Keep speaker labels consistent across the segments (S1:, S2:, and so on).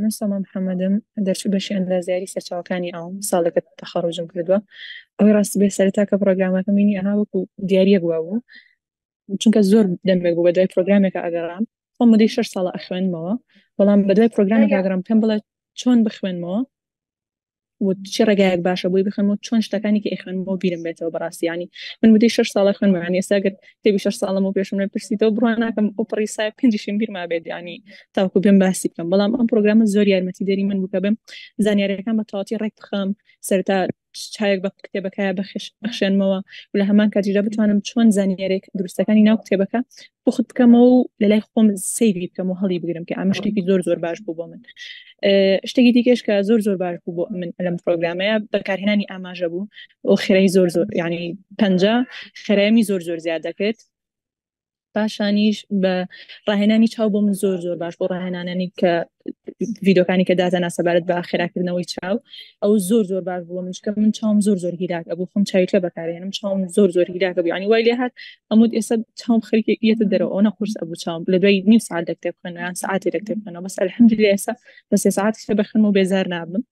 S1: من سۆما محەممەدم دەرچوو بەشی ئەندازیاری سەرچاوەکانی ئەوم ساڵێکە تەخەڕۆژم کردووە ئەوەی ڕاستی بێ سەرتا کە پرۆگرامەکە مینی ئەها وەکو دیارەک بووە بوو چونکە زۆر دەمێک بوو بە دوای پرۆگرامێکە ئەگەڕام خۆ مدەی شش ساڵە ئەخوێنمەوە بەڵام بە دوای پرۆگرامێک ئەگەڕام پێم بڵێت چۆن بخوێنمەوە چی ڕێگایەک باشە بۆی بخم و چۆن شتەکانی کە ئەخوێن بۆ بیرم بێتەوە بەڕاستیانی من مدەی شش ساڵە خوێنمانی ئێساگەر تێبی شش ساڵم و پێشم لە پرسیتەوە بڕوا ناکەم ئەو پڕی سای پێنجشم بیرما بێت ینی تاوکو بێم باسی بکەم بەڵام ئەم پرۆگرامە زۆر یارمەتی دەری من بکە بم زانیارەکان بە تەواتی ڕێک بخەم سەرتا چاوێک بە کتێبەکە بەخش بخشێنمەوە و لە هەمان کاتیشدا بتوانم چۆن زانیارێک دروستەکانی ناو کتێبەکە پخت بکەمەوە و لە لای خۆم سەیری بکەم و هەڵی بگرم کە ئەمە شتێکی زۆر زۆر باش بوو بۆ من شتێکی دیکەش کە زۆر زۆر باش بوو بۆ من لەم پرۆگرامەیە بەکارهێنانی ئاماژە بوو و خێرای زۆر زۆر ینی پەنج خێرامی زۆر زۆر زیاد دەکرێت پاشانیش بە ڕاهێنانی چاو بۆ من زۆر زۆر باش بۆ ڕاهێنانانی کە ڤیدۆکانی کە دازانا سەبارەت بە خێراکردنەوەی چاو ئەو زۆر زۆر باش بووە منشکە من چاوم زۆر زۆر هیلاک ئەبوو خم چاویکە بەکارێنم چاوم زۆر زۆر هیلاکە بوو ینی وای لێ هاات ئەمود ئێستا چاوم خەرکی یەتە دەرەوە ئەو نەخورس ئەبوو چاوم لە دوای نیم ساعت دەکتێب خوێنیان ساعتی دەکتێب خوێنەوە بەس الحمد لله ئێستا بە سێ ساعت شتە بەخم و بێزار نابم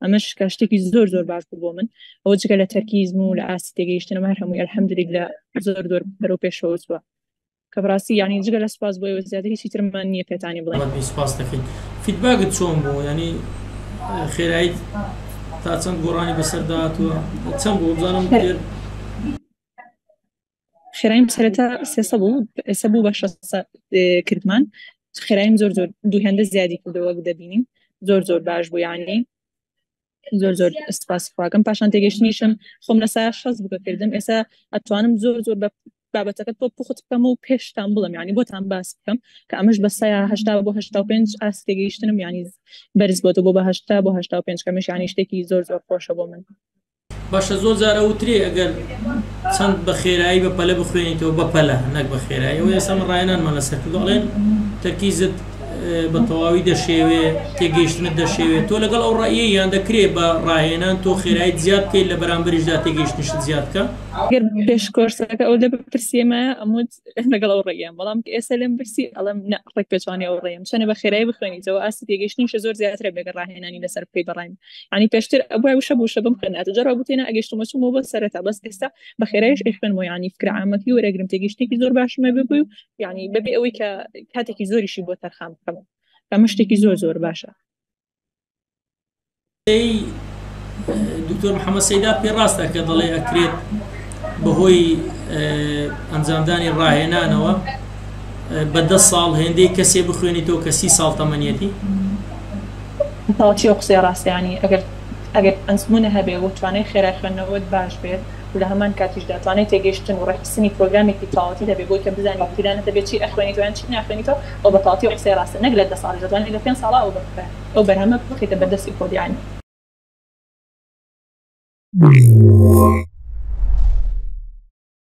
S1: ئەمەش کە شتێکی زۆر زۆر باش بوو بۆ من ئەوە جگە لە تەرکیزم و لە ئاستی تێگەیشتنەوە هەر هەمووی الحمد لله زۆر زۆر بەرەو پێشەوە چوە کە بەڕاستی یانی جگە لە سوپاس بۆ ئێوە زیاتر هیچی ترمان نییە پێتانی بڵێین. بەڵێ سوپاس دەکەین.
S2: فیدباکت چۆن بوو؟ یانی خێراییت تا چەند گۆڕانی بەسەردا هاتووە؟ چەند بوو؟ بزانم پێر
S1: خێرایم سەرەتا سێ سەد بوو، ئێستا بوو بە شەست سەد اه، کردمان. خێرایم زۆر زۆر دوو هێندە زیادی کردەوە وەک دەبینین. زۆر زۆر باش بوو یانی. زۆر زۆر سپاس خواکەم پاشان تێگەشتنیشم خۆم لە سا شەز بکە کردم ئێستا ئەتوانم زۆر زۆر بە بابەتەکە تۆ پخت بکەم و پێشتان بڵم ینی بۆتان باس بکەم کە ئەمەش بە سایا هشتا بۆ هشتا و پێنج ئاست تێگەیشتنم ینی بەرز بۆتە بۆ بە هشتا بۆ هشتا و پێنج کەمش ینی شتێکی زۆر زۆر خۆشە بۆ من باشە زۆر
S2: جارە وترێ ئەگەر چەند بە خێرایی بە پەلە بخوێنیتەوە بە پەلە نەک بە خێرایەوە ئێستا من ڕایەنانمان لەسەر کردڵێن تەرکیزت بە تەواوی دەشێوێ تێگەیشتنت دەشێوێ تۆ لەگەڵ ئەو ڕایە یان دەکرێ بە ڕاهێنان تۆ خێرایت زیاد بکەیت لە بەرامبەریشدا تێگەیشتنشت زیاد بکە گەر پێش
S1: کۆرسەکە ئەو لە بپرسیێمایە ئەموت لەگەڵ ئەو ڕێیان بەڵام ئێستا لەم برسی ئەڵم ڕێک پێچوانی ئەو ڕێم چەنە بە خێرای بخوێنیتەوە ئاستی تێگەیشتنیشە زۆر زیاترە بێگە ڕاهێنانی لەسەر بکەی بەڕایم ینی پێشتر ئەبوو وشە بووشە بم خوێنات جەرا بوتێنە ئەگەشتمە چوومەوە بە سەرەتا بەس ئێستا بە خێرایش ئەخوێنمەوە ینی فکرعامەکی وەرەگرم تێگەیشتێکی زۆر باشمە ببووی و یعنی بەبێ ئەوەی کە کاتێکی زۆریشی بۆ تەرخان بکەم ئەمە شتێکی زۆر زۆر باشە
S2: دکتۆر محەممە سەیدا پێ ڕاستە کە دەڵێ ئەکرێت بەهۆی ئەنجامدانی ڕاهێنانەوە بە دە ساڵ هێندەی کەسێ بخوێنی تۆ کەسی ساڵ تەمەنیەتی
S1: تاچی قسەی ڕاستیانی ئەگەر ئەگەر ئەنجمونە هەبێ و توانای خێرای خوێندنەوەت باش بێت لە هەمان کاتیشدا توانای تێگەیشتن و ڕێکخستنی پرۆگرامێکی تەواوەتیت هەبێ بۆی کە بزانی لە پیرانت دەبێ چی ئەخوێنیتەوە یان چی ناخوێنیتەوە ئەوە بە تەواوەتی ئەو قسەیە ڕاستە نەک لە دە ساڵیش دەتوانی لە پێنج ساڵا ئەو بەرهەمە بخەیتە بەر دەستی خۆت یانی.